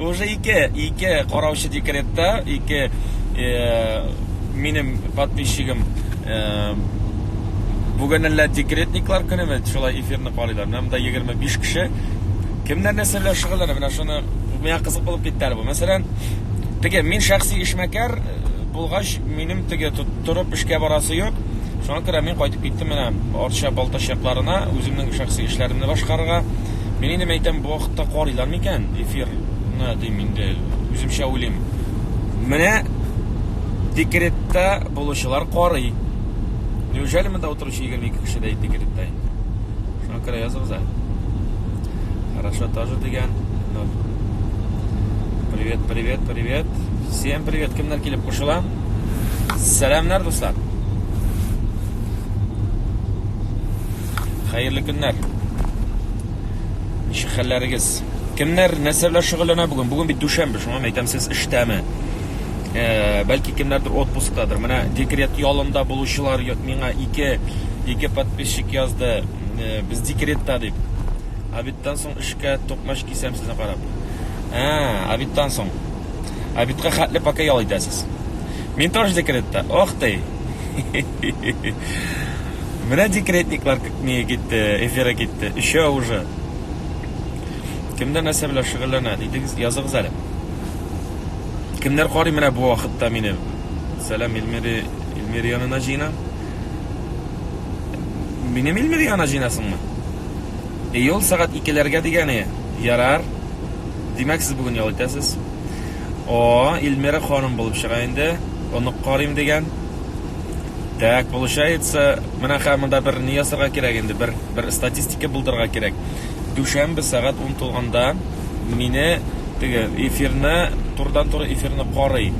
Уже ике, ике караучы декретта, ике минем подписчигым бүген әллә декретниклар көнеме, шулай эфирны карыйлар. Менә монда 25 кеше. Кемнәр нәрсә белән шөгыльләнә? Менә шуны миңа кызык булып китте әле бу. Мәсәлән, теге мин шәхси эшмәкәр булгач, минем теге торып эшкә барасы юк. Шуңа күрә мин кайтып киттем менә Арча Балтачакларына, үземнең шәхси эшләремне башкарырга. Мин инде мәйтәм, бу вакытта карыйлар микән эфир? Ны дим инде, үземчә уйлыйм. Менә декретта булучылар карый. Неужели монда утыручы 22 кеше дә декретта инде? Шуңа күрә языгыз әле. Хорошо тоже дигән. Ну. Привет, привет, привет. Всем привет. Кемнәр килеп кушыла? Сәламнәр, дуслар. Хәерле көннәр. Ничек хәлләрегез? Кемнәр нәрсә белән шөгыльләнә бүген? Бүген бит дүшәмбе, шуңа әйтәм, сез эштәме? Э, бәлки кемнәрдер отпусктадыр. Менә декрет ялында булучылар миңа ике ике подписчик язды. Э, без декретта дип. Обедтан соң эшкә токмач кисәм сезне карап. Ә, э, обедтан соң. Обедка хәтле пока ял итәсез. Мин тоже декретта. Ох ты. Менә декретниклар не китте, эфиры китте. Өчә уже. Кемдә нәрсә белән шөгыльләнә? Дидегез, языгыз әле. Кемнәр карый менә бу вакытта мине? Сәлам Илмири, Илмир янына җыена. Минем Илмир янына җыенасыңмы? Июль сәгать 2-ләргә дигәне. Ярар. Димәк, сез бүген ял итәсез. О, Илмира ханым булып чыга инде. Онык карыйм дигән. Так, получается, менә хәзер монда бер ни ясарга кирәк инде, бер бер статистика булдырга кирәк. Дүшәмбе сәгать 10 тулганда мине теге эфирны, турыдан-туры эфирны карый.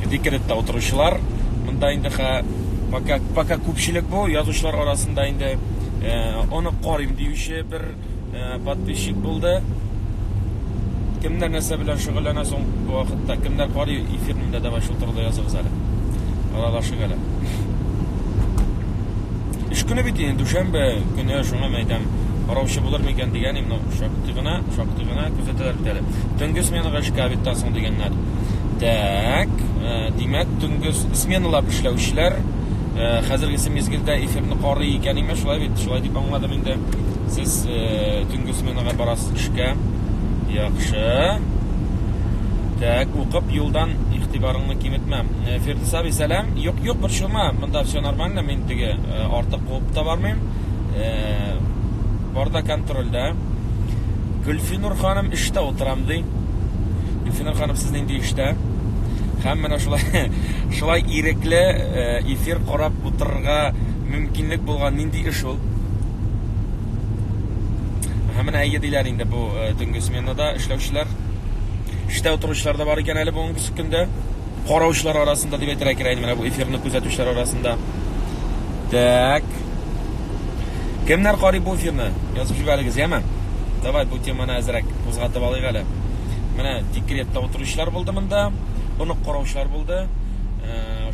Декретта утыручылар, монда инде хә пока пока күпчелек бу язучылар арасында инде э, аны карыйм диюче бер э, подписчик булды. Кемнәр нәрсә белән шөгыльләнә соң бу вакытта? Кемнәр карый эфирнең дә давай шул турыда языгыз әле. Алалашык әле. Эш көне бит инде дүшәмбе көне шуңа мә әйтәм. Караучы булыр микән дигән инде шактый гына, шактый гына күзәтәләр бит әле. Төнге сменага эшкә бит соң дигәннәр. Так, э, димәк, төнге сменалап эшләүчеләр э, хәзергесе мизгелдә эфирны карый икән име, шулай бит, шулай дип аңладым. Инде сез э, төнге сменага барасыз эшкә. Яхшы. Так, укып юлдан игътибарыңны киметмә. Э, Фирдис абый, сәлам. Юк, юк, бер шума. Монда все нормально, мин теге э, артык куып та бармыйм. Барда контрольдә. Гөлфинур ханым эштә утырам ди. Гөлфинур ханым, сез нинди эштә? Һәм менә шулай шулай ирекле эфир карап утырырга мөмкинлек булган нинди эш ул? Һәм менә әйе диләр инде бу э, төнге сменада эшләүчеләр. Эштә утыручылар да бар икән әле бүгенге көндә. Караучылар арасында дип әйтергә кирәк менә бу эфирны күзәтүчеләр арасында. Так. Кемнәр карый бу эфирны? Язып җибәрегез, яме? Давай бу теманы әзрәк кузгатып алыйк әле. Менә декретта утыручылар булды монда, онык караучылар булды.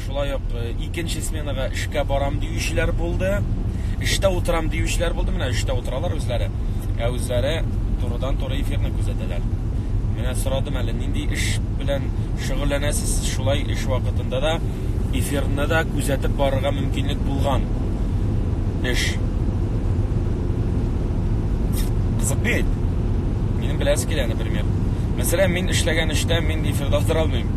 Шулай ук икенче сменага эшкә барам диючеләр булды. Эштә утырам диючеләр булды. Менә эштә утыралар үзләре. Ә үзләре турыдан туры эфирны күзәтәләр. Менә сорадым әле, нинди эш белән шөгыльләнәсез? Шулай эш вакытында да эфирны да күзәтеп барырга мөмкинлек булган эш. Кызык бит. Минем беләсе килә, например. Мәсәлән, мин эшләгән эштә мин эфирда утыра алмыйм.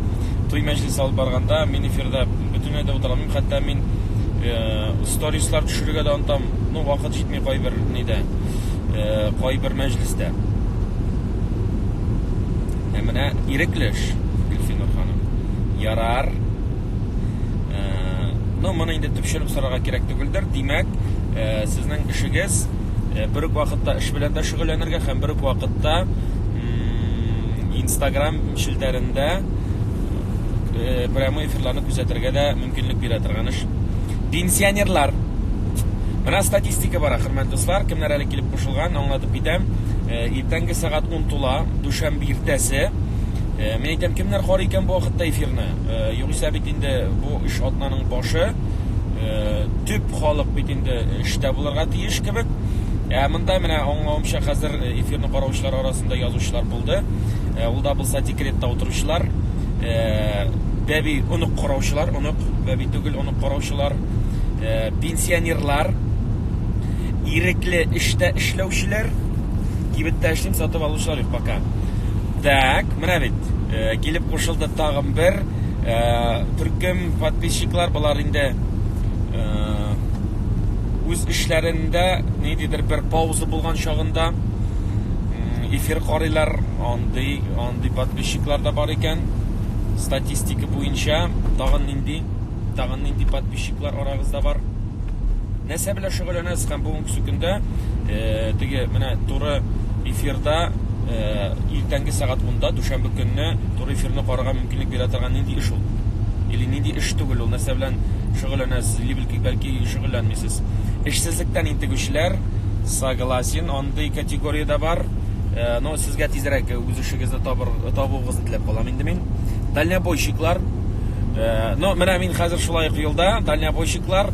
туй мәҗлесе алып барганда мин эфирда бөтенләй дә утыра алмыйм, хәтта мин э, сторислар төшерергә дә онтам. Ну, вакыт җитми кайбер нидә, э, кайбер мәҗлестә. Ә менә ирекле эш, Гөлфинур ханым. Ярар. Э, ну, моны инде төпченеп сорарга кирәк түгелдер. Димәк, э, сезнең эшегез э, бер үк вакытта эш белән дә шөгыльләнергә һәм бер үк вакытта Instagram челтәрендә э, прямой эфирларны күзәтергә дә мөмкинлек бирә торган эш. Пенсионерлар. Менә статистика бара, хөрмәт дуслар, кемнәр әле килеп кушылган, аңлатып китәм. Э, иртәнге сәгать 10 тула, дүшәмбе иртәсе. Э, мин әйтәм, кемнәр карый икән бу вакытта эфирны? Югыйсә бит инде бу эш атнаның башы. Төп халык бит инде эштә булырга тиеш. кебек. Ә монда менә аңлавымча хәзер э, эфирны караучылар арасында язучылар булды. Э, ул да булса декретта утыручылар, э, бәби онык караучылар, онык бәби түгел, онык караучылар, пенсионерлар, ирекле эштә эшләүчеләр, кибеттә эшлим, сатып алучылар юк пока. Так, менә бит, килеп кушылды тагын бер төркем подписчиклар, болар инде үз эшләрендә ниндидер бер пауза булган чагында эфир карыйлар, андый, андый подписчиклар да бар икән. Статистика буенча тагын нинди, тагын нинди подписчиклар арагызда бар. Нәрсә белән шөгыльләнәсез һәм бүгенге көндә э, теге менә туры эфирда э, иртәнге сәгать 10-да дүшәмбе көнне туры эфирны карарга мөмкинлек бирә торган нинди эш ул? Или нинди эш түгел ул? Нәрсә белән шөгыльләнәсез? Бәлки шөгыльләнмисез. Эшсезлектән интегүчеләр, согласен, андый категория дә бар. Э, но сезгә тизрәк үз эшегезне табыр, табуыгызны теләп калам инде мин. Дальнобойщиклар, э, но менә мин хәзер шулай ук юлда, дальнобойщиклар,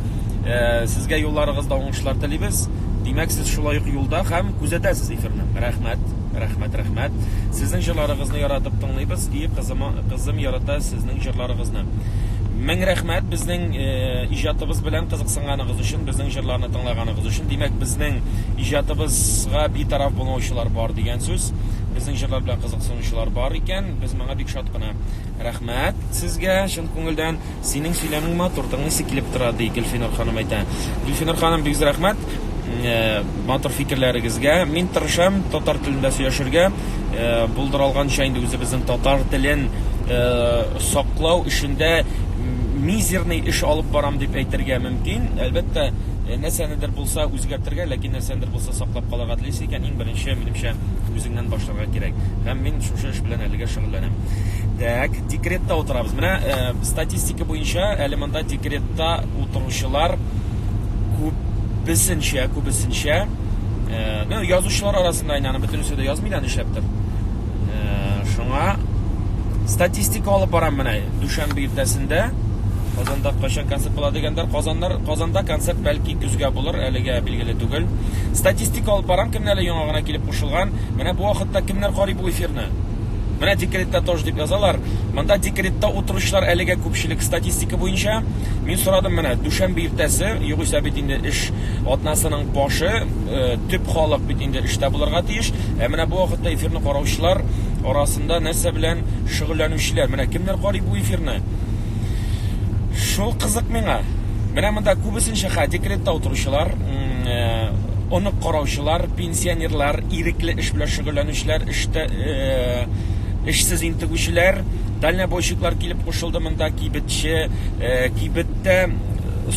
э, сезгә юлларыгызда уңышлар телибез. Димәк, сез шулай ук юлда һәм күзәтәсез эфирны. Рәхмәт, рәхмәт, рәхмәт. Сезнең җырларыгызны яратып тыңлыйбыз. Кызым, кызым ярата сезнең җырларыгызны. Мең рәхмәт безнең э, иҗатыбыз белән кызыксынганыгыз өчен, безнең җырларны тыңлаганыгыз өчен. Димәк, безнең иҗатыбызга битараф булмаучылар бар дигән сүз. Безнең җырлар белән кызыксынучылар бар икән. Без моңа бик шат кына. Рәхмәт сезгә чын күңелдән. Синең сөйләмең матур, тыңлыйсы килеп тора, ди Гөлфинур ханым әйтә. Гөлфинур ханым, бик зур рәхмәт матур фикерләрегезгә. Мин тырышам татар телендә сөйләшергә. Булдыра алганча инде үзебезнең татар телен саклау эшендә мизерный эш алып барам дип әйтергә мөмкин. Әлбәттә, нәрсәнедер булса үзгәртергә, ләкин нәрсәнедер булса саклап Канәгатьлисе икән, иң беренче, минемчә, үзеңнән башларга кирәк. Һәм мин шушы эш белән әлегә шөгыльләнәм. Дәк, декретта утырабыз. Менә э, статистика буенча, әле монда декретта утыручылар күбесенчә, күбесенчә, э, ну, язучылар арасында инде аны бөтенесе дә язмый да нишләптер. Э, шуңа статистика алып барам менә дүшәмбе иртәсендә Казанда кайчан концерт була дигәндә, Казаннар Казанда концерт бәлки көзгә Алар әлегә билгеле түгел. Статистика алып барам, кемне әле яңа гына килеп кушылган. Менә бу вакытта кемнәр карый бу эфирны? Менә декретта тож дип язалар. Монда декретта утыручылар әлегә күпчелек статистика буенча. Мин сорадым менә, дүшәмбе иртәсе, югыйсә бит инде эш атнасының башы, э, төп халык бит инде эштә булырга тиеш. Ә менә бу вакытта эфирны караучылар арасында нәрсә белән шөгыльләнүчеләр? Менә кемнәр карый бу эфирны? Шул кызык миңа. Менә монда күбесенчә хә декретта утыручылар, онык э, караучылар, пенсионерлар, ирекле эш белән шөгыльләнүчеләр, эштә э, эшсез интегүчеләр, дальнобойщиклар килеп кушылды монда, кибетче, э, кибеттә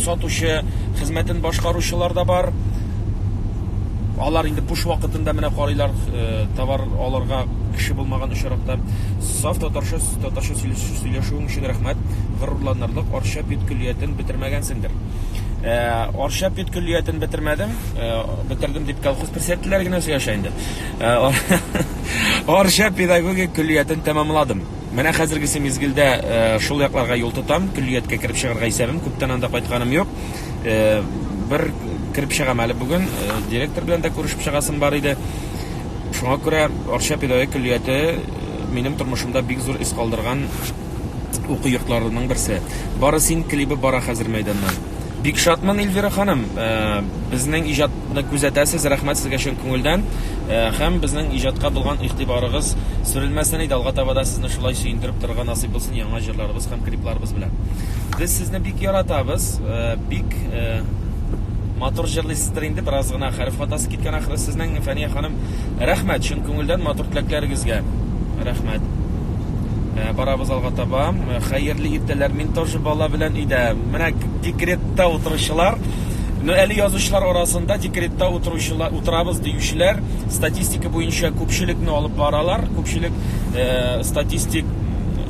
сатучы, хезмәтен башкаручылар да бар. Алар инде буш вакытында менә карыйлар, товар аларга кеше булмаган очракта. Саф татарча Татарча сөйләшүең өчен рәхмәт. Горурланырлык Арча педкөллиятен бетермәгәнсеңдер. Ә, Арча педкөллиятен бетермәдем. Ә, бетердем дип колхоз пресетләре генә сөйләшә инде. Ә, Арча педагогик көллиятен тәмамладым. Менә хәзергесе мизгелдә ә, шул якларга юл тотам. Көллияткә кереп чыгарга исәбем. Күптән анда кайтканым юк. Ә, бер кереп чыгам әле бүген. Ә, директор белән дә күрешеп чыгасым бар иде. Шуңа күрә Арча педагогик көллияте Минем тормышымда бик зур эз калдырган уку йортларының берсе. Бары син клибы бара хәзер мәйданнан. Бик шатмын, Эльвира ханым. Безнең иҗатны күзәтәсез, рәхмәт сезгә чын күңелдән. Һәм безнең иҗатка булган игътибарыгыз сүрелмәсен иде, алга таба да сезне шулай сөендереп торырга насыйп булсын яңа җырларыбыз һәм клипларыбыз белән. Без сезне бик яратабыз. Бик матур җырлыйсыздыр инде, бераз гына хәреф хатасы киткән ахры сезнең, Фәния ханым. Рәхмәт, чын күңелдән матур теләкләрегезгә. Рәхмәт. Э, барабыз алга таба. Э, хәерле иртәләр. Мин тоже бала белән өйдә. Менә декретта утыручылар, ну әле язучылар арасында декретта утыручылар, утырабыз диючеләр статистика буенча күпчелекне алып баралар. Күпчелек э, статистик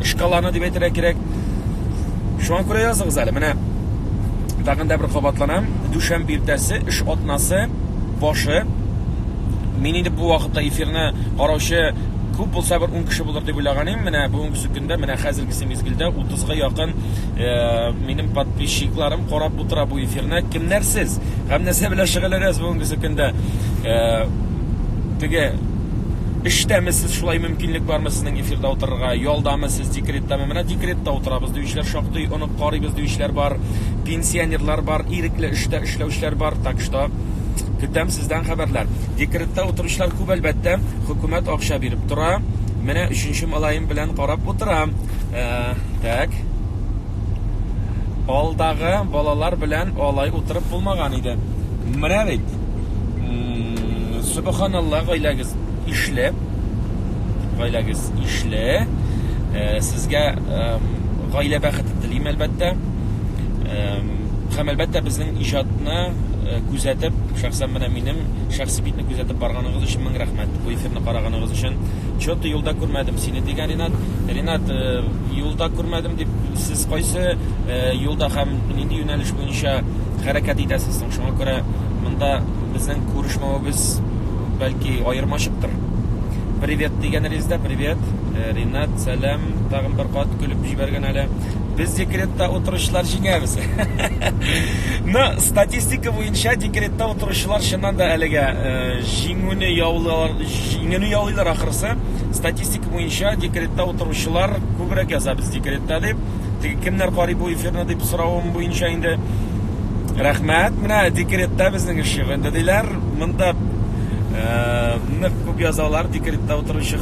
шкаланы дип әйтергә кирәк. Шуңа күрә языгыз әле. Менә тагын да бер кабатланам. Дүшәмбе иртәсе эш атнасы башы. Мин инде бу вакытта эфирны караучы күп булса бер 10 кеше булыр дип уйлаган идем. Менә бүгенге көндә, менә хәзергесе мизгелдә 30 га якын э, минем подписчикларым карап утыра бу эфирны. Кемнәр сез? Һәм нәрсә белән шөгыльләнәсез бүгенге көндә? Э, теге эштәме сез шулай мөмкинлек бармы сезнең эфирда утырырга ялдамы сез декреттамы менә декретта утырабыз диючеләр шактый онык карыйбыз диючеләр бар, пенсионерлар бар, ирекле эштә эшләүчеләр бар, так что көтәм сездән хәбәрләр. Декретта утыручылар күп әлбәттә, хөкүмәт акча биреп тора. Менә өченче малаем белән карап утырам. Ә, так. Алдагы балалар белән алай утырып булмаган иде. Менә бит. Субханалла, гаиләгез ишле. Гаиләгез ишле. Сезгә гаилә бәхете телим, әлбәттә. Һәм, әлбәттә, безнең иҗатны э, күзәтеп, шәхсән менә минем шәхси битне күзәтеп барганыгыз өчен мең рәхмәт. Бу эфирны караганыгыз өчен. Чоты юлда күрмәдем сине дигән Ринат. Ринат, э, юлда күрмәдем дип, сез кайсы э, юлда һәм нинди юнәлеш буенча хәрәкәт итәсез соң? Шуңа күрә монда безнең күрешмәвебез бәлки аермачыктыр. Привет дигәнегездә, привет. Э, Ринат, сәлам. Тагын бер кат көлеп җибәргән әле. Без декретта утыручылар җиңәбез. Ну, статистика буенча декретта утыручылар чыннан да әлегә э, җиңүне яулар, җиңүне яулыйлар ахырсы. Статистика буенча декретта утыручылар күбрәк яза без декретта дип. Теге кемнәр карый бу эфирны дип соравым буенча инде рәхмәт. Менә декретта безнең эше. Инде диләр, монда э, нык күп язалар декретта утыручы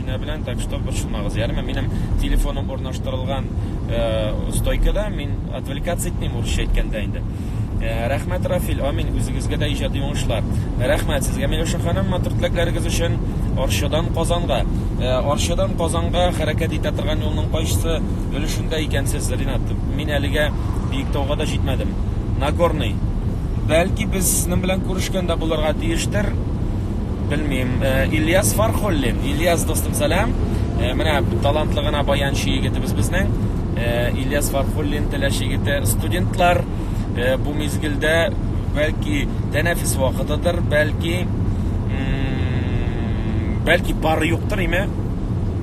Менә белән, так что борчылмагыз, ярыймы? Минем телефоным урнаштырылган э, стойкада, мин отвлекаться итмим урысча әйткәндә инде. Э, рәхмәт, Рафил, амин, үзегезгә дә иҗади уңышлар. Рәхмәт сезгә, Миләүшә ханым, матур теләкләрегез өчен. Арчадан Казанга. Э, Арчадан Казанга хәрәкәт итә торган юлның кайсы өлешендә икәнсез, Ринат? Мин әлегә Биектауга да җитмәдем. Нагорный. Бәлки без сезнең белән күрешкәндә булырга тиештер. Белмим, Ильяс Фархуллин. Ильяс дустым, сәлам. Менә талантлы гына баянчы егетебез безнең. Ильяс Фархуллин теләче егете. Студентлар бу мизгелдә бәлки тәнәфис вакытыдыр, бәлки бәлки пары юктыр име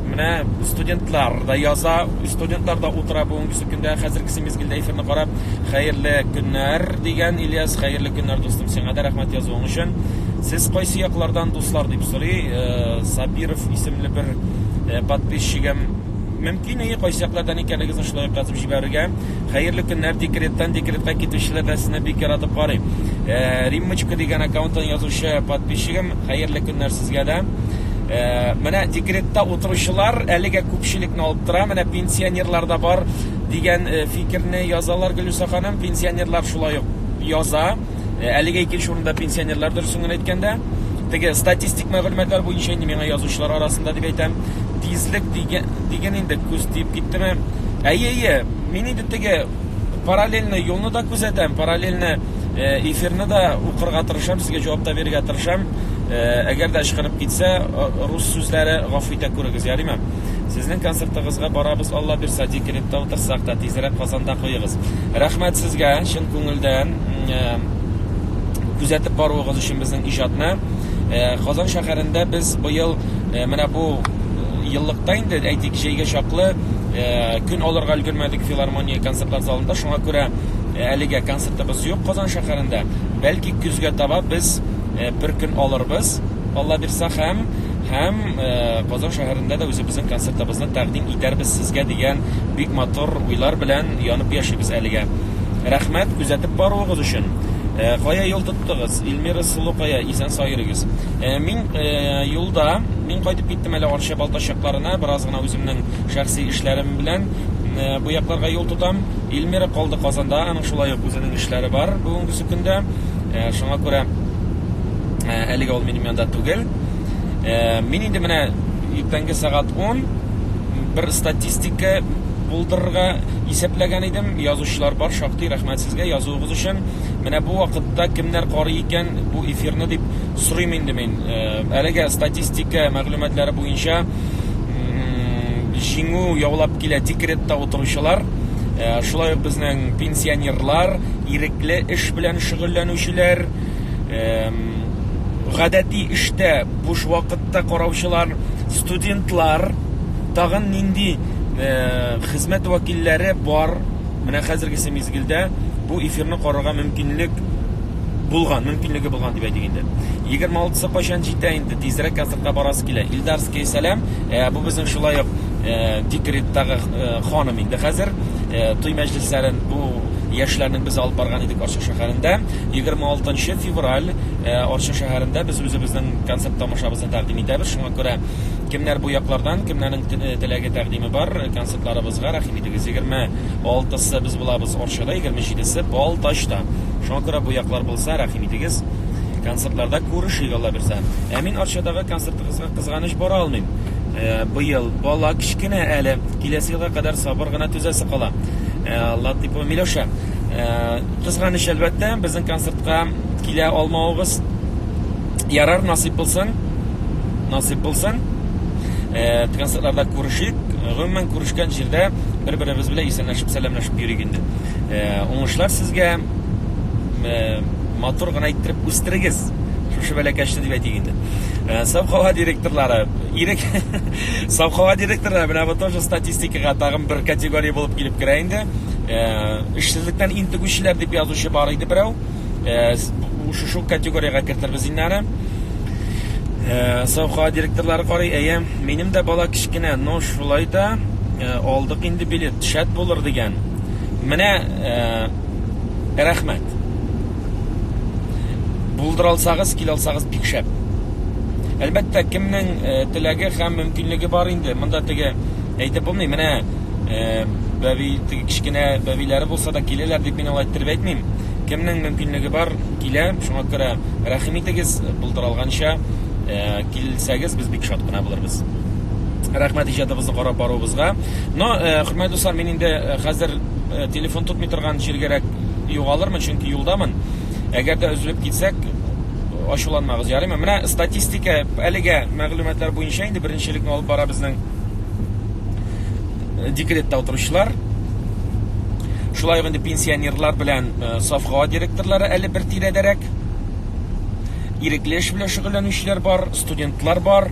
менә студентлар да яза студентлар да утыра бүгенге көндә хәзерге мизгелдә эфирны карап хәерле көннәр дигән ильяс хәерле көннәр дустым сиңа да рәхмәт язуың өчен Сез кайсы яклардан дуслар дип сорый э, Сабиров исемле бер э, подписчигым. Мөмкин и кайсы яклардан икәнлегегезне шулай язып җибәрергә. Хәерле көннәр декреттан декретка китүчеләр дә сезне бик яратып карый. Э, Риммочка дигән аккаунттан язучы подписчигым, хәерле көннәр сезгә дә. Э, менә декретта утыручылар әлегә күпчелекне алып тора. Менә пенсионерлар да бар дигән э, фикерне язалар Гөлүсә ханым. Пенсионерлар шулай ук яза. Э, әлеге икенче урында пенсионерлар дөресен генә әйткәндә теге статистик мәгълүматлар буенча инде миңа язучылар арасында дип әйтәм тизлек диген инде күз тиеп киттеме әйе әйе мин инде теге параллельный юлны да күзәтәм параллельный э, эфирны да укырга тырышам сезгә җавап та бирергә тырышам э, әгәр дә ычкынып китсә рус сүзләре гафу итә күрегез ярыймы Сезнең концертыгызга барабыз, Алла бирса, декретта утырсак та, тизрәк Казанда куегыз. Рәхмәт сезгә, чын күңелдән күзәтеп баруыгыз өчен безнең иҗатны. Казан шәһәрендә без быел менә бу еллыкта инде, әйтик, җәйгә чаклы көн алырга өлгермәдек филармония концертлар залында. Шуңа күрә әлегә концертыбыз юк Казан шәһәрендә. Бәлки көзгә таба без бер көн алырбыз, Алла бирса, һәм һәм Казан шәһәрендә дә үзебезнең концертыбызны тәкъдим итәрбез сезгә дигән бик матур уйлар белән янып яшибез әлегә. Рәхмәт күзәтеп баруыгыз өчен! Кая юл тоттыгыз? Ильмира сылукая, исән сау йөрегез. Мин юлда, мин кайтып киттем әле Арча Балтач якларына, бераз гына үземнең шәхси эшләрем белән бу якларга юл тотам. Ильмира калды Казанда, аның шулай ук үзенең эшләре бар бүгенгесе көндә, шуңа күрә әлегә ул минем янда түгел. Э, мин инде менә иртәнге сәгать 10 бер статистика булдырырга исәпләгән идем. Язучылар бар, шактый рәхмәт сезгә язуыгыз өчен. Менә бу вакытта кемнәр карый икән бу эфирны дип сорыйм инде мин. Э, әлегә статистика мәгълүматлары буенча җиңү яулап килә декретта утыручылар. Э, шулай ук безнең пенсионерлар, ирекле эш белән шөгыльләнүчеләр, гадәти эштә буш вакытта караучылар, студентлар, тагын нинди хезмәт вәкилләре бар? Менә хәзергесе мизгелдә бу эфирны карарга мөмкинлек булган, мөмкинлеге булган дип әйтик инде. 26-сы кайчан җитә инде? Тизрәк концертка барасы килә. Илдарский, сәлам. Ә, бу безнең шулай ук декреттагы ханым инде хәзер. Туй мәҗлесләрен бу яшьләрнең без алып барган идек, шәһәрендә 26 нчы февраль э, Арча шәһәрендә без үзебезнең концерт тамашабызны тәкъдим итәбез. Шуңа күрә кемнәр бу яклардан, кемнәрнең те- э, теләге тәкъдиме бар, э, концертларыбызга рәхим итегез. 26-сы без булабыз Арчада, 27-се Балтачта. Шуңа күрә бу яклар булса, рәхим итегез. Концертларда күрешик Алла бирсә. Ә мин Арчадагы концертыгызга кызганыч бара алмыйм. Э, Быел бала кечкенә әле, киләсе елга кадәр сабыр гына түзәсе кала. Э, Латыпова Миләүшә. Кызганыч, әлбәттә, безнең концертка килә алмавыгыз. Ярар, насыйп булсын. Насыйп булсын. Э, концертларда күрешик. Гомумән күрешкән җирдә бер-беребез белән исәнләшеп, сәламләшеп йөрик инде. Э, уңышлар сезгә. Э, матур гына иттереп үстерегез. Шушы бәләкәчне дип әйтик инде. Савхава директорлары, ирек Саф һава директоры менә бу тоже статистикага тагын бер категория булып килеп керә инде. Э, эшсезлектән интегүчеләр дип язучы бар иде берәү. Э, шушы категориягә кертербез инде аны. Э, Саф һава директорлары карый, әйе, минем дә бала кечкенә, но шулай да алдык инде билет, шәт булыр дигән. Менә рәхмәт. Булдыралсагыз, килалсагыз бик шәп. Әлбәттә, кемнең э, теләге һәм мөмкинлеге бар инде. Монда теге әйтеп булмый, менә э, бәби теге кечкенә бәбиләре булса да киләләр дип мин алай иттереп әйтмим. Кемнең мөмкинлеге бар, килә. Шуңа күрә рәхим итегез, булдыралганча э, килсәгез, без бик шат кына булырбыз. Рәхмәт иҗатыбызны карап баруыбызга. Но, хөрмәтле дуслар, мин инде хәзер телефон тотмый торган җиргәрәк югалырмын, чөнки юлдамын. Әгәр дә өзелеп китсәк, ачуланмагыз, ярыймы? Менә статистика әлегә мәгълүматлар буенча инде беренчелекне алып бара безнең э, декретта утыручылар. Шулай ук инде пенсионерлар белән э, сафхава директорлары әле бер тирәдәрәк. Ирекле эш белән шөгыльләнүчеләр бар, студентлар бар.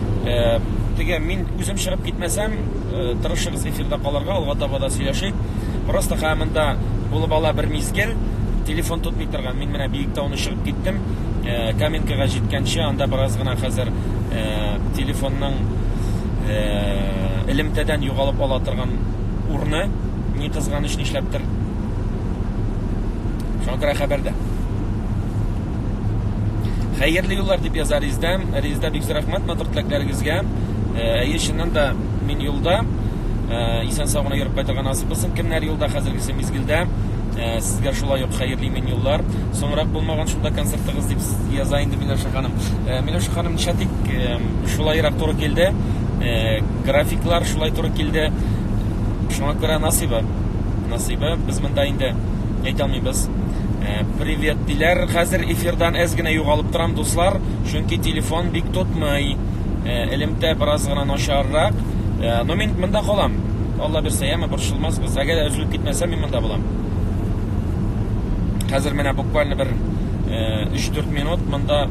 Э, теге мин үзем чыгып китмәсәм, э, тырышыгыз эфирда калырга, алга таба да сөйләшик. Просто хә монда булып ала бер мизгел, телефон тотмый торган. Мин менә Биектауны чыгып киттем. Э, Каменкага җиткәнче анда бераз гына хәзер телефонның элемтәдән югалып ала торган урны, ни кызганыч нишләптер. Шуңа күрә хәбәрдә. Хәерле юллар дип яза Резда. Резда бик рәхмәт матур теләкләрегезгә. Әйе, чыннан да мин юлда. Исән сау гына йөреп кайтырга насыйп булсын. Кемнәр юлда хәзергесе мизгелдә? Э, сезгә шулай ук хәерле имин юллар соңрак булмаган шунда концертыгыз дип яза инде миләүшә ханым э, миләүшә ханым ничәтик э, шулайрак туры килде графиклар шулай туры килде шуңа күрә насыйбы насыйбы без монда инде әйтә алмыйбыз. Э, привет диләр. Хәзер эфирдан әз генә югалып торам, дуслар, чөнки телефон бик тотмый. Э, элемтә бераз гына начаррак. Э, но мин монда калам. Алла бирсә, яме борчылмасбыз. Әгәр дә өзелеп китмәсә, мин монда булам. Хәзер менә буквально бер 3-4 минут монда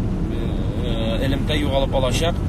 элемтә югалып алачак.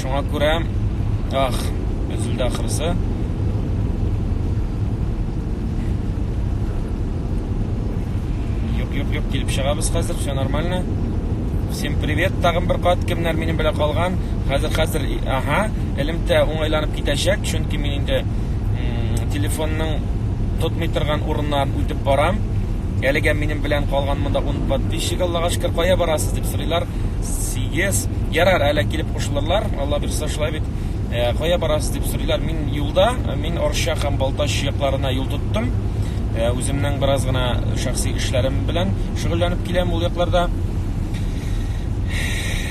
Шуңа күрә, ах, өзелде ахрысы. Юк, юк, килеп чыгабыз хәзер, все нормально. Всем привет, тагын бер кат кемнәр минем белән калган. Хәзер хәзер, ага, элемтә уңайланып китәчәк, чөнки мин инде телефонның тотмый торган урыннарын үтеп барам. Әлегә минем белән калган монда 10 подписчик, Аллага шөкер, кая барасыз дип сорыйлар. сигез ярар әле килеп кушылырлар алла бирса шулай бит э, кая барасыз дип сорыйлар мин юлда э, мин орча һәм балтач якларына юл тоттым э, үземнең бераз гына шәхси эшләрем белән шөгыльләнеп киләм ул якларда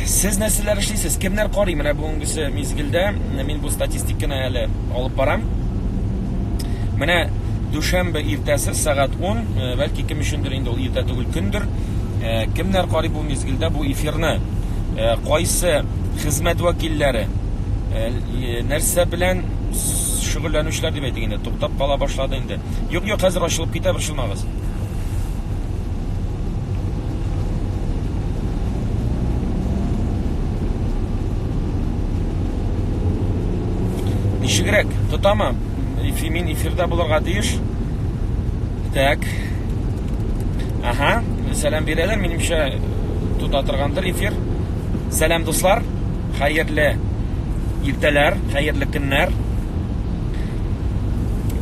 сез нәрсәләр эшлисез кемнәр карый менә бүгенгесе мизгелдә мин бу статистиканы әле алып барам менә дүшәмбе иртәсе сәгать 10 бәлки кем өчендер инде ул иртә түгел көндер кемнәр карый Мизгелдә бу эфирны кайсы хезмәт вәкилләре, нәрсә белән шөгыльләнүчеләр дип әйтик инде, туктап кала башлады инде. Юк, юк, хәзер ачылып китә, борчылмагыз. Ничегрәк, тотамы? Мин эфирда булырга тиеш. Так. Ага, сәлам бирәләр, минемчә тота торгандыр эфир. Сәлам дуслар, хәерле иртәләр, хәерле көннәр.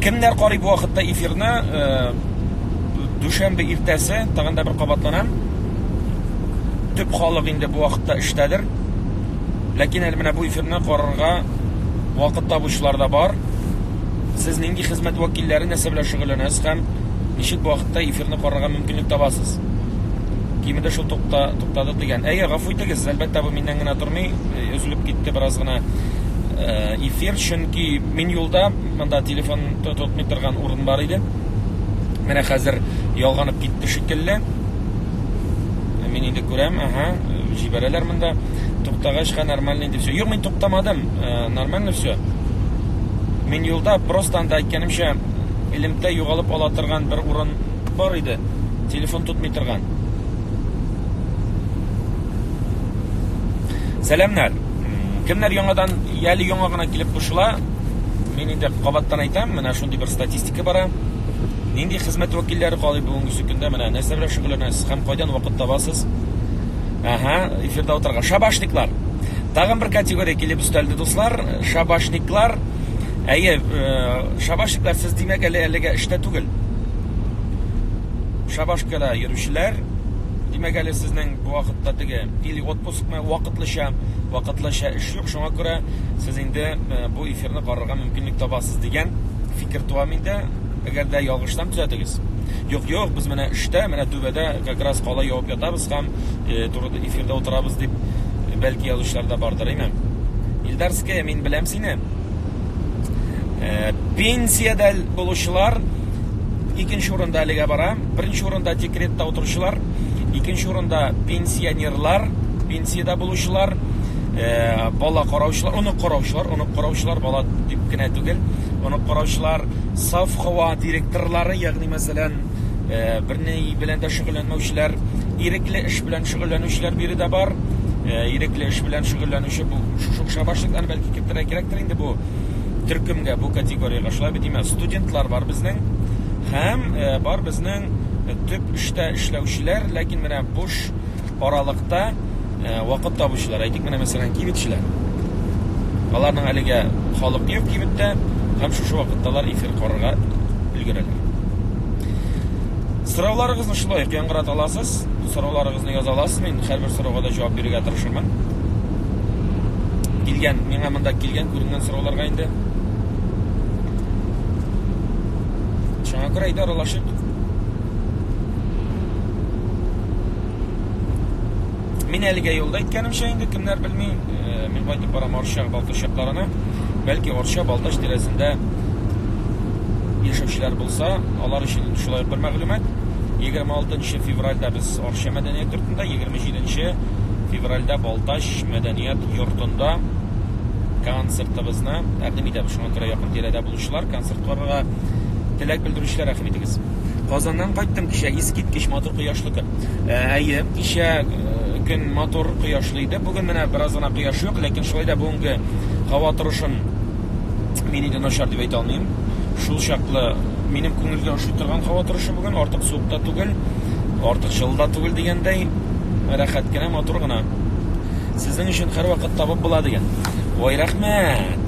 Кемнәр карый бу вакытта эфирны? Э, дүшәмбе иртәсе, тагын да бер кабатланам. Төп халык инде бу вакытта эштәдер. Ләкин әле менә бу эфирны карарга вакыт табучылар да бар. Сез нинди хезмәт вәкилләре нәрсә белән шөгыльләнәсез һәм ничек бу вакытта эфирны карарга мөмкинлек табасыз? Кимендә шул тукта, туктады дигән. Әйе, гафу итегез, әлбәттә бу миннән генә тормый, э, өзелеп китте бераз гына э, эфир, чөнки мин юлда, монда телефон тотмый торган урын бар иде. Менә хәзер ялганып китте шикелле. Э, мин инде күрәм, ага, җибәрәләр монда. Туктагачка нормально инде все. Юк, мин туктамадым, нормально все. Мин юлда просто анда әйткәнемчә элемтә югалып ала торган бер урын бар иде. Телефон тотмый торган. Сәламнәр. Кемнәр яңадан яли яңа гына килеп кушыла? Мин инде кабаттан әйтәм, менә шундый бер статистика бара. Нинди хезмәт вәкилләре калый бүгенге көндә? Менә нәрсә белән шөгыльләнәсез һәм кайдан вакыт табасыз? Ага, эфирда утырга. Шабашниклар. Тагын бер категория килеп өстәлде, дуслар. Шабашниклар, әйе, э, шабашниклар, сез димәк әле әлегә эштә түгел. Шабашкада йөрүчеләр, димәк әле сезнең бу вакытта теге или отпускмы, вакытлыча, вакытлыча эш юк, шуңа күрә сез инде э, бу эфирны карарга мөмкинлек табасыз дигән фикер туа миндә. Әгәр дә ялгышсам, төзәтегез. Юк, юк, без менә эштә, менә түбәдә как раз кала явып ятабыз. Ислам э, турыда эфирда утырабыз дип э, бәлки язучылар да бардыр име? Илдарская, мин беләм сине. Э, пенсиядә булучылар икенче урында әлегә бара. Беренче урында декретта утыручылар, икенче урында пенсионерлар, пенсиядә булучылар, э, бала караучылар, онык караучылар, онык караучылар, бала дип кенә түгел, онык караучылар, совхоа директорлары, ягъни мәсәлән, берни белән дә шөгыльләнмәүчеләр, ирекле эш белән шөгыльләнүчеләр биредә бар. Ирекле эш белән шөгыльләнүче бу шушы кеше башлыктан бәлки кертергә кирәктер инде бу төркемгә, бу категориягә. Шулай бит димә, студентлар бар безнең һәм бар безнең төп эштә эшләүчеләр, ләкин менә буш аралыкта вакыт табучылар, әйтик менә мәсәлән кибетчеләр. Аларның әлегә халык юк кибеттә, һәм шушы вакытта алар эфир карарга өлгерәләр. Сорауларыгызны шулай ук яңгырата аласыз, сорауларыгызны яза аласыз, мин һәрбер сорауга да җавап бирергә тырышырмын. Килгән, миңа монда килгән күренгән сорауларга инде. Шуңа күрә әйдә аралашып Мин әлегә юлда әйткәнемчә инде кемнәр белми, э, мин кайтып барам Арча Балтач якларына. Бәлки Арча Балтач тирәсендә яшәүчеләр булса, алар өчен шулай бер мәгълүмат. 26 февральдә без Арча мәдәният йортында, 27 февральдә Балтач мәдәният йортында концертыбызны тәкъдим итәбез. Шуңа күрә якын тирәдә булучылар концерт карарга теләк белдерүчеләр рәхим итегез. Казаннан кайттым кичә, искиткеч матур кояшлы көн. Э, әйе, кичә э, көн матур кояшлы иде. Бүген менә бераз гына кояш юк, ләкин шулай да бүгенге һава торышын мин инде начар дип әйтә алмыйм. Шул чаклы минем күңелгә ошый торган һава торышы бүген, артык суык та түгел, артык җылы да түгел дигәндәй, рәхәт кенә, матур гына. Сезнең өчен һәрвакыт табып була дигән. Ой, рәхмәт!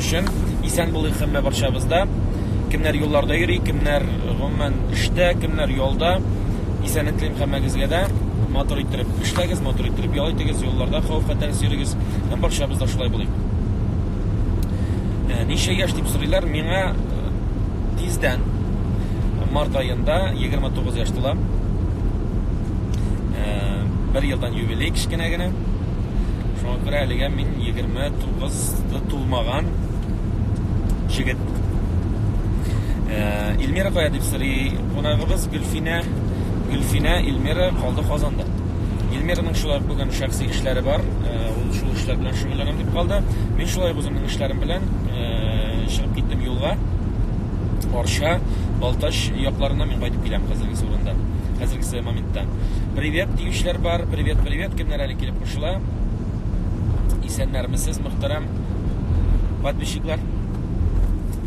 өчен. Исән булыйк хәммә барчабыз да. Кемнәр юлларда йөри, кемнәр гомумән эштә, кемнәр ялда. Исәнлек телим хәммәгезгә дә. Матур иттереп эшләгез, матур иттереп ял итегез, юлларда хавыф-хәтәрсез йөрегез. Һәм барчабыз да шулай булыйк. Ә, ничә яшь дип сорыйлар, миңа э, тиздән март аенда 29 яшь тула. Ә, бер елдан юбилей кечкенә генә. Шуңа күрә әлегә мин 29 30 тулмаган җегет. Э, Илмира кая дип сорый кунагыбыз Гөлфинә. Гөлфинә Илмира калды Казанда. Илмираның шулай бүген шәхси эшләре бар. Э, ул шул эшләр белән шөгыльләнәм дип калды. Мин шулай үземнең эшләрем белән э, чыгып киттем юлга. Арча, Балтач якларына мин кайтып киләм хәзерге урында. Хәзерге моментта. Привет диючеләр бар. Привет, привет. Кемнәр әле килеп кушыла? Исәннәрмесез, мөхтәрәм подписчиклар.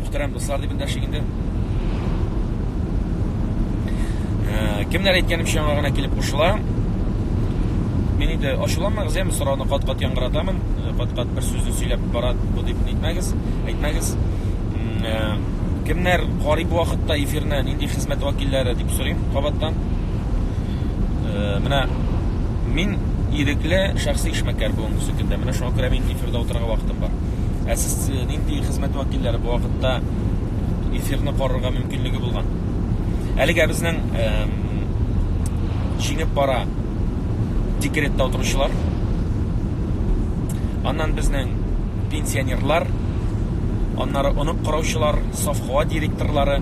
Мөхтәрәм дуслар дип эндәшик инде. Э, кемнәр әйткәнемчә яңа гына килеп кушыла. Мин инде ачуланмагыз, яме сорауны кат-кат яңгыратамын. Э, кат-кат бер сүзне сөйләп бара бу дип әйтмәгез, әйтмәгез. Э, кемнәр карый бу вакытта эфирны, нинди хезмәт вәкилләре дип сорыйм кабаттан. Э, менә мин ирекле шәхси эшмәкәр бүгенге сөкендә. Менә шуңа күрә мин эфирда утырырга вакытым бар. Ә сез э, нинди хезмәт вәкилләре бу вакытта эфирны карарга мөмкинлеге булган? Әлегә безнең җиңеп бара декретта утыручылар. Аннан безнең пенсионерлар, аннары онып караучылар, совхоз директорлары,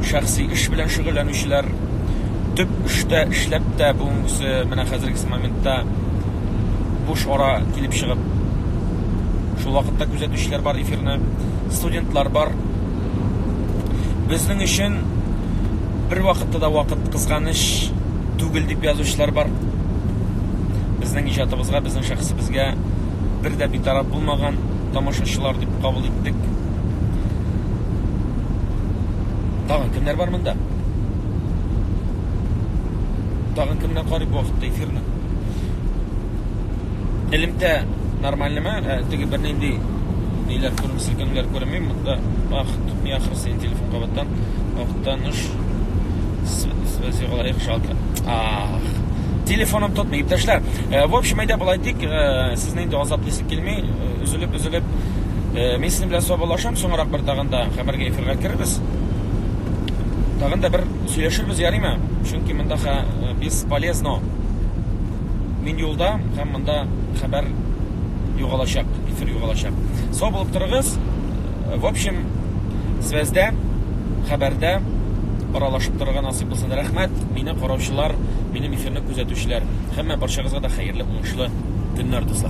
шәхси эш белән шөгыльләнүчеләр төп эштә эшләп тә бүгенгесе менә хәзергесе моментта буш ара килеп чыгып шул вакытта күзәтүчеләр бар эфирны студентлар бар безнең өчен бер вакытта да вакыт кызганыч түгел дип язучылар бар безнең иҗатыбызга безнең шәхесебезгә бер дә битараф булмаган тамашачылар дип кабул иттек. Тагын кемнәр бар монда? Тагын кемнәр карый бу вакытта эфирны? Элемтә нормальныймы? Ә, теге бернинди ниләр күренми, селкенүләр күренми. Монда ах, тотмый ахрысы телефон кабаттан. Вакыттан уш связи лайк жалко. Ах. Телефоным тотмый, иптәшләр. Э, в общем, әйдә болай дик, э, Сезне инде азап дисек килми, өзелеп-өзелеп. Мин сезнең белән саубалашам, соңрак бер тагын да камергә эфирга керербез. Тагын да бер сөйләшербез, ярыймы? Чөнки монда хә без полезно. Мин юлда һәм монда хәбәр югалачак, эфир югалачак. Сау булып торыгыз. В общем, связьдә, хәбәрдә аралашып торырга насыйп булсын. Рәхмәт, мине караучылар, минем эфирны күзәтүчеләр. Һәммә барчагызга да хәерле, уңышлы көннәр, дуслар.